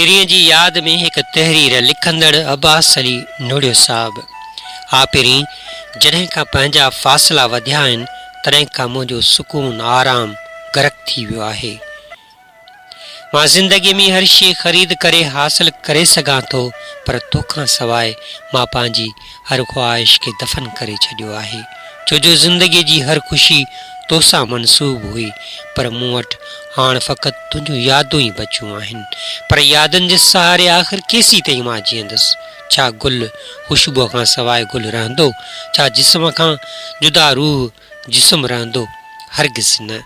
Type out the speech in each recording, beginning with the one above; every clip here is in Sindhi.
پرين جي ياد ۾ هڪ تحرير لکندڙ عباس علي نوڙيو صاحب آء پرين جڏهن کان پنهنجا فاصلا وڌيا آهن تڏهن کان منهنجو سڪون آرام غرق ٿي ويو آهي مان زندگي ۾ هر شيء خريد ڪري حاصل ڪري سگهان ٿو پر توکان سواء مان پنهنجي هر خواهش کي دفن ڪري ڇڏيو آهي ڇو جو زندگي جي هر خوشي تو سان منسوب هئي پر مون وٽ هاڻ فقط تنهنجون يادون ئي بچيون آهن پر يادن جي سهاري آخر ڪيسين تائين مان جيئندس ڇا گل خوشبوء کان سواء گل رهندو ڇا جسم کان جدا روح جسم رهندو؟ هرگز نه.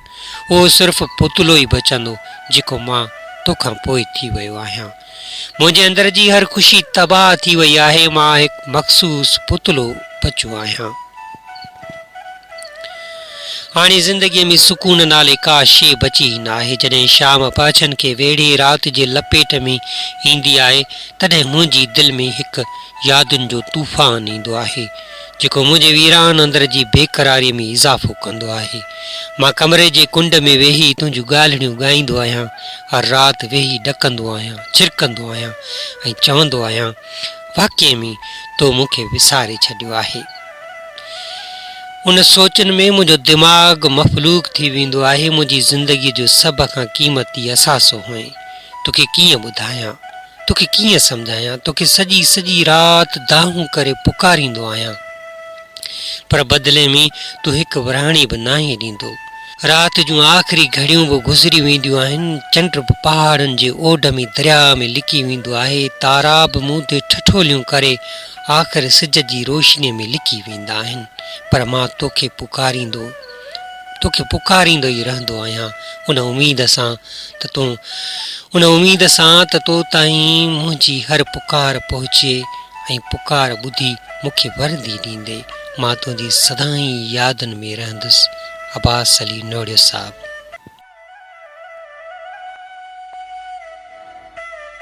اهو صرف پتلو ئي بچندو جيڪو مان تو کان پوء ٿي ويو آهيان. منهنجي اندر جي هر خوشي تباهه ٿي وئي آهي. مان هڪ مخصوص پتلو بچو آهيان. هاڻي زندگيء ۾ سڪون نالي ڪا شيء بچي ئي ناهي. جڏهن شام پهڇن کي ويڙهي رات جي لپيٽ ۾ ايندي آهي، تڏهن منهنجي دل ۾ هڪ يادن جو طوفان ايندو آهي. جيڪو منهنجي ويران اندر جي بيقراريء ۾ اضافو ڪندو آهي. مان ڪمري جي ڪنڊ ۾ ويهي تنهنجون ڳالهڙيون ڳائيندو آهيان، هر رات ويهي ڏڪندو آهيان، ڇرڪندو آهيان ۽ چوندو آهيان، واقعي ۾ تو مون کي وساري ڇڏيو آهي. ان سوچن ۾ منهنجو دماغ مفلوج ٿي ويندو آهي، منهنجي زندگيء جو سڀ کان قيمتي اثاثو هئين، توکي ڪيئن ٻڌايان؟ توکي ڪيئن سمجهايان، توکي سڄي سڄي رات دانهون ڪري پڪاريندو آهيان، پر بدلي ۾ تون هڪ ورهاڻي به ناهين ڏيندو. رات جون آخري گهڙيون به گذري وينديون آهن، چنڊ به پهاڙن جي اوڍ ۾ درياء ۾ لڪي ويندو آهي، تارا به مون تي ٺٺوليون ڪري آخر سج جي روشني ۾ لڪي ويندا آهن، پر مان توکي پڪاريندو. توکي پڪاريندو ئي رهندو آهيان ان اميد سان ته تون ان اميد سان ته تو تائين منهنجي هر پڪار پهچي ۽ پڪار ٻڌي مون کي وردي ڏيندي مان تنهنجي سدائين يادن ۾ رهندس عباس علي نوڙيو صاحب.